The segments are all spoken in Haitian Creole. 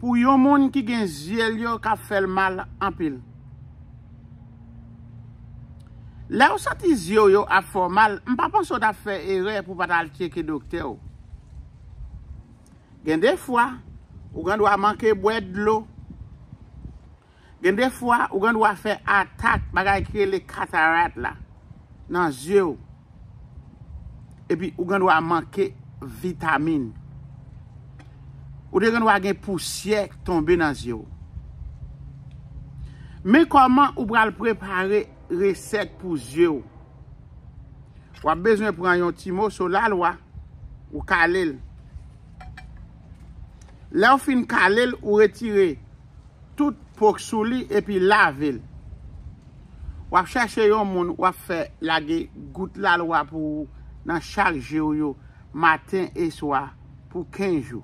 Pou yon moun ki gen zye l yo ka fè l mal anpil. Lè ou santi zye w yo ap fè w mal, m pa panse w ta fè erè pou w pa t al tyeke doktè w. Gen de fwa, ou gen dwa manke bwè dlo. Gen de fwa ou gen dwa fè atak bagay ki rele katarat la nan zye ou. Epi ou gen dwa manke vitamin. Ou te gen dwa gen pousyè k tonbe nan zye ou. Men kòman ou pral prepare resèt pou zye ou. W ap bezwen pran yon ti moso lalwa, ou kale l. Lè ou fin kale l, ou retire. tout po k sou li epi lave l. W ap chache yon moun w ap fè lage gout lalwa pou ou nan chak je w yo maten e swa pou 15 jou.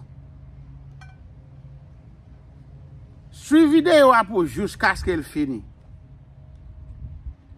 Swiv videyo a pou jouskaske l fini.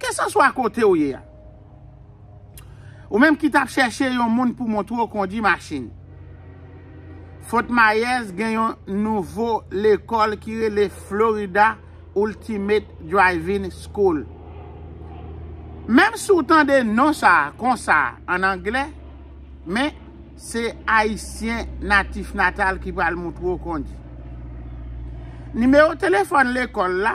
Keseswa kote w ye a. Ou menm ki t ap chèche yon moun pou montre w kondi machin. Fort Myers gen yon nouvo lekòl ki rele Florida Ultimate Driving School. Menm si w tande non sa a konsa an angle, men se Ayisyen natifnatal ki pral montre w kondi. Nimewo telefòn lekòl la.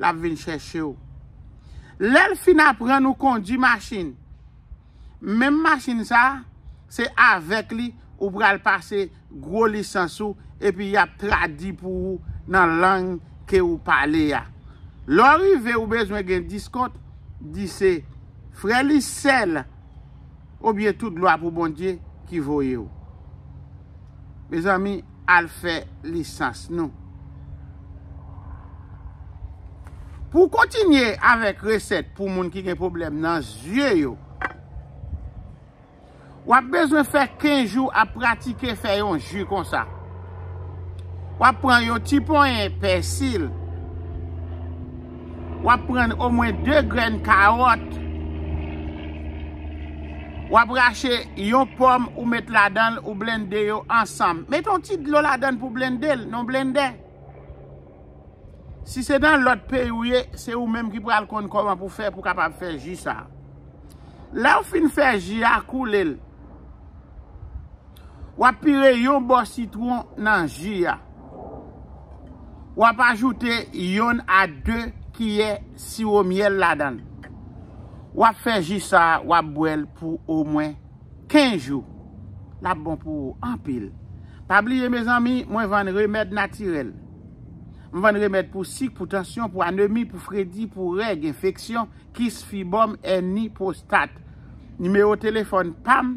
l ap vin chèche w. Lè l fin aprann ou kondi machin, menm machin sa a, se avèk li ou pral pase gwo lisans ou epi y ap tradi pou ou nan lang ke ou pale a. Lè w rive ou bezwen gen diskont, di se frè Lise l. Ou byen tout glwa pou Bondye ki voyew. Mezanmi al fè lisans nou. Pou kontinye avèk resèt pou moun ki gen pwoblèm nan zye yo. Wap bezwen fè 15 jou ap pratike fè yon ju konsa. Wap pran yon ti ponyen pèsil. Wap pran omwen 2 grenn kawòt. Wap rache yon pòm ou met ladan l ou blende yo ansanm. Met yon ti dlo ladan l pou blende l nan blendè. Si se nan lòt peyi ou ye, se ou menm ki pral konn kòman pou fè pou kapab fè ji sa. Lè ou fin fè ji a koule l. Wap pire yon bò sitwon nan ji a. Wap ajoute yonn a 2 kiyè siwo myèl ladan l. Wap fè ji sa wap bwè l pou omwen 15 jou. Lap bon pou ou anpil. Pa bliye mezanmi mwen vann remèd natirèl. M vann remèd pou sik, pou tansyon, pou anemi, pou fredi, pou règ, enfeksyon, kis, fibòm, èni, pwostat. Nimewo telefòn pam.